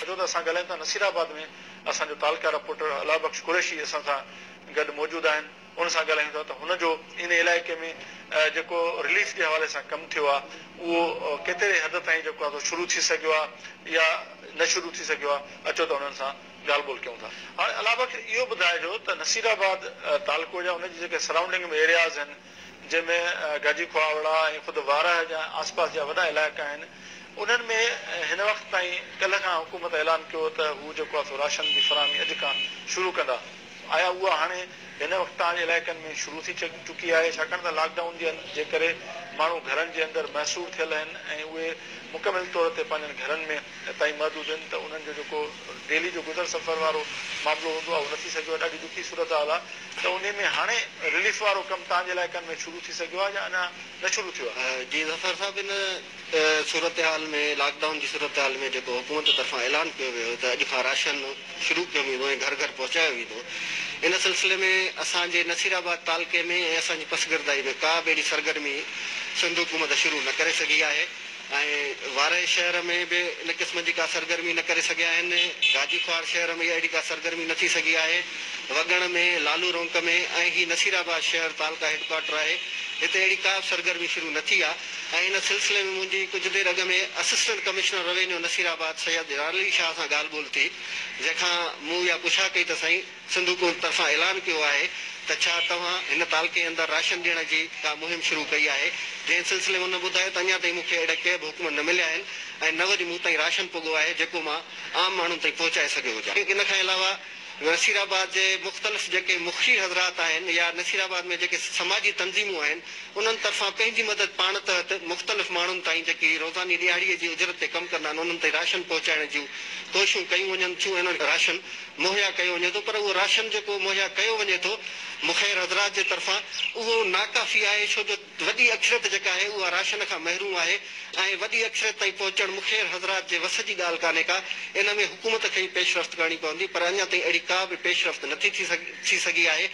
اچو ته اسان ڳالهايون ٿا نصير آباد ۾ اسان جو تعلقه رپورٽر الله بخش قريشي اسان سان گڏ موجود آهن ان سان ڳالهايون ٿا ته هن جو ان علائقي ۾ جيڪو رليف جي حوالي سان ڪم ٿيو آهي اهو ڪيتري حد تائين جيڪو آهي سو شروع ٿي سگهيو آهي يا نه شروع ٿي سگهيو آهي اچو ته انهن سان ڳالهه ٻولهه ڪيون ٿا هاڻي الله بخش اهو ٻڌائجو ته نصير آباد تعلقو جا ان جي جيڪي سرائونڊنگ ۾ ايرياز آهن جنهن ۾ گاجي کهاوڙا ۽ خود وارهه جا آسپاس جا وڏا علائقا آهن انهن ۾ هن وقت تائين ڪلهه کان حڪومت اعلان ڪيو ته هو جيڪو آهي سو راشن جي فراهمي اڄ کان شروع ڪندا آيا اها هاڻي هن وقت تاج علائقن ۾ شروع ٿي چڪي آهي ڇاڪاڻ ته لاڪ ڊائون جي ڪري ماڻهو گهرن جي اندر محصور ٿيل آهن ۽ اهي مڪمل طور تي پنهنجن گهرن ۾ تائين محدود هن ته انهن جو جيڪو ڊيلي جو گذر سفر وارو معاملو هوندو آهي اهو نه ٿي سگهيو آهي ڏاڍي ڏکي صورتحال آهي ته انهي ۾ هاڻي رليف وارو ڪم تهان جي علائقن ۾ شروع ٿي سگهيو آهي يا اڃا نه شروع ٿيو آهي. جي ظفر صاحب ان صورتحال ۾ لاڪ ڊائون جي صورتحال ۾ جيڪو حڪومت طرفان اعلان ڪيو ويو هو ته اڄ کان راشن شروع ڪيو ويندو ۽ گهر گهر پهچايو ويندو ان سلسلي ۾ اسان جي نصير آباد تعلقي ۾ ۽ اسان جي پسگردائي ۾ ڪا به اهڙي سرگرمي سنڌ حڪومت شروع نه ڪري سگهي آهي ۽ وارهي شهر ۾ به ان قسم جي ڪا سرگرمي نه ڪري سگهيا آهن. گاجي خوار شهر ۾ اهڙي ڪا سرگرمي نه ٿي سگهي آهي. وڳڻ ۾، لالو رونق ۾ ۽ هي نصير آباد شهر تعلقه هيڊ ڪوارٽر آهي، هتي اهڙي ڪا به سرگرمي شروع نه ٿي آهي ۽ ان سلسلي ۾ منهنجي ڪجهه دير اڳ ۾ assistant commissioner revenue Nasirabad Syed Jalal Ali Shah سان ڳالهه ٻولهه ٿي، جنهن کان مون اها پڇا ڪئي ته سائين! سنڌ حڪومت طرفان اعلان ڪيو آهي ته ڇا توهان هن تعلقي اندر راشن ڏيڻ جي ڪا مهم شروع ڪئي آهي جنهن سلسلي ۾ هن ٻڌايو ته اڃا تائين مون کي اهڙا ڪي به حڪم نه مليا آهن ۽ نه وري مون تائين راشن پڳو آهي جيڪو مان عام ماڻهن تائين پهچائي سگهيو هجان ان کان علاوه نصير آباد جي مختلف جيڪي مخشي حضرات آهن يا نصير آباد ۾ جيڪي سماجي تنظيمون آهن انهن طرفان پنهنجي مدد پاڻ تحت مختلف ماڻهن تائين جيڪي روزاني ڏهاڙي جي اجرت تي ڪم ڪندا آهن انهن تائين راشن پهچائڻ جون ڪوششون ڪيون وڃن ٿيون ۽ انهن راشن مهيا ڪيو وڃي ٿو پر اهو راشن جيڪو مهيا ڪيو وڃي ٿو مخير حضرات جي طرفان اهو ناڪافي آهي ڇو جو وڏي اڪثريت جيڪا آهي اها راشن کان محروم آهي ۽ وڏي اڪثريت تائين پهچڻ مخير حضرات جي وس جي ڳالهه ڪانهي ڪا ان ۾ حڪومت کي ئي پيش رفت ڪرڻي پوندي پر اڃا تائين اهڙي ڪا به پيش رفت نٿي ٿي سگهي آهي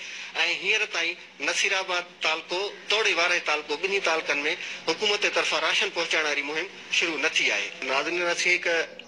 ۽ هينئر تائين نصيرآباد تعلقو توڙي وارهي تعلقو ٻنهي تعلقن ۾ حڪومت جي طرفان راشن پهچائڻ واري مهم شروع نه ٿي آهي. ناظرين اسين هڪ.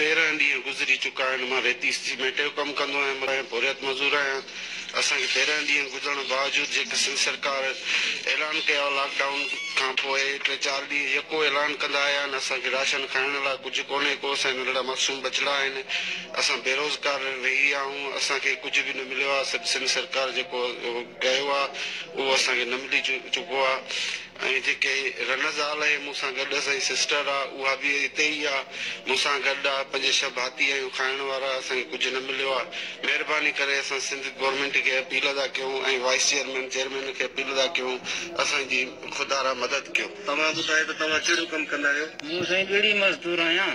تيرنهن ڏينهن گذري چڪا آهن، مان ريتي سيمينٽ جو ڪم ڪندو آهيان، ۽ پورهيت مزور آهيان، اسان کي تيرنهن ڏينهن گذرڻ باوجود جيڪي سنڌ سرڪار اعلان ڪيا هئا لاڪ ڊائون کان پوء ٽي چار ڏينهن يڪو اعلان ڪندا آيا آهن، اسان کي راشن کائڻ لاء ڪجهه ڪونهي ڪو اسان جا ننڍڙا معصوم ٻچڙا آهن، اسان بيروزگار رهي ويا آهون، اسان کي ڪجهه به نه مليو آهي، سنڌ سرڪار جيڪو ڪيو آهي اهو اسان کي نه ملي چڪو آهي. ۽ جيڪي رنه زال اهي مون سان گڏ اسان جي سسٽر آ اها به اتي ئي آ مون سان گڏ آ پنج ڇهه ڀاتي آهيون کائڻ وارا اسان کي ڪجهه نه مليو آ مهرباني ڪري اسان سنڌ گورمينٽ کي اپيل ادا ڪيون ۽ وائيس چيئرمين چيئرمين کي اپيل ادا ڪيون اسان جي خدارا مدد ڪيو. توهان ٻڌايو ته توهان ڪهڙو ڪم ڪندا آهيو؟ مون سائين ٻيڙي مزدور آهيان.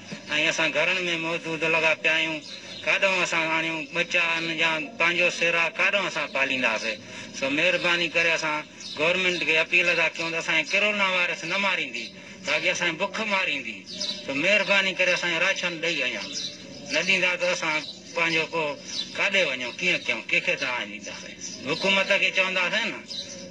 ۽ اسان گهرن ۾ موجود لڳا پيا آهيون، ڪاڏانهن اسان آڻيون ٻچا ان جا پنهنجو سيرا ڪاڏانهن اسان پالينداسي؟ سو مهرباني ڪري اسان گورنمينٽ کي اپيل ٿا ڪيون ته اسان کي ڪرونا وائرس نه ماريندي باقي اسان کي بک ماريندي سو مهرباني ڪري اسان کي راشن ڏئي اڃا نه ڏيندا ته اسان پنهنجو پوء ڪاڏي وڃون ڪيئن ڪيون ڪنهن کي دانهن ڏينداسين حڪومت کي چونداسين نه.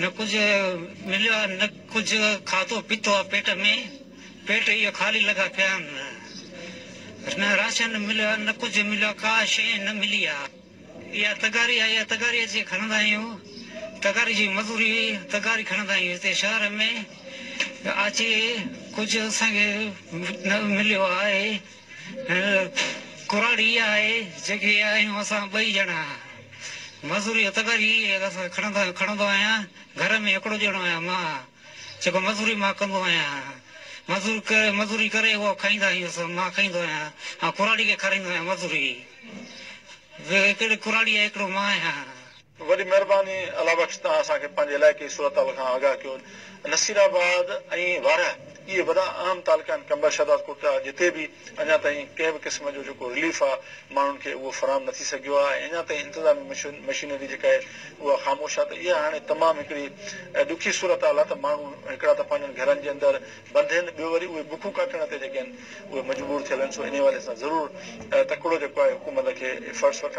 نه ڪجهه مليو آ نه ڪجهه کاڌو پيتو آ پيٽ ۾، پيٽ اهي خالي لڳا پيا آهن. نه راشن مليو آ نه ڪجهه مليو آ ڪا شيء نه ملي آ. اها تغاري آهي اها تغاري اچي کڻندا آهيون تغاري جي مزوري تغاري کڻندا آهيون هتي شهر ۾ اچي ڪجهه اسان کي نه مليو آهي. هيء ڪراڙ ئي آهي، جيڪي آهيون اسان ٻئي ڄڻا. مزوري جو تڪر ئي کڻندو آهيان. گهر ۾ هڪڙو ڄڻو آهيان مان، جيڪو مزوري مان ڪندو آهيان. مزوري ڪري اهو کائيندا آهيون سو مان کائيندو آهيان. آئون ڪراڙي کي کارائيندو آهيان مزوري. هڪڙي ڪراڙي آهي هڪڙو مان آهيان. وڏي مهرباني الله بخش توهان اسان کي پنهنجي علائقي جي صورتحال کان آگاهه ڪيو نصير آباد ۽ وارهه اهي وڏا اهم تعلقا آهن قمبر شهداد ڪوٽڙا جتي به اڃا تائين ڪنهن به قسم جو جيڪو رليف آهي ماڻهن کي اهو فراهم نه ٿي سگهيو آهي ۽ اڃا تائين انتظامي مشينري جيڪا آهي اها خاموش آهي ته اها هاڻي تمام هڪڙي ڏکي صورتحال آهي ته ماڻهو هڪڙا ته پنهنجن گهرن جي اندر بند هين ٻيو وري اهي بکون ڪاٽڻ تي جيڪي آهن اهي مجبور ٿيل آهن سو انهي حوالي سان ضرور تڪڙو جيڪو آهي حڪومت کي ايفرٽس وٺڻ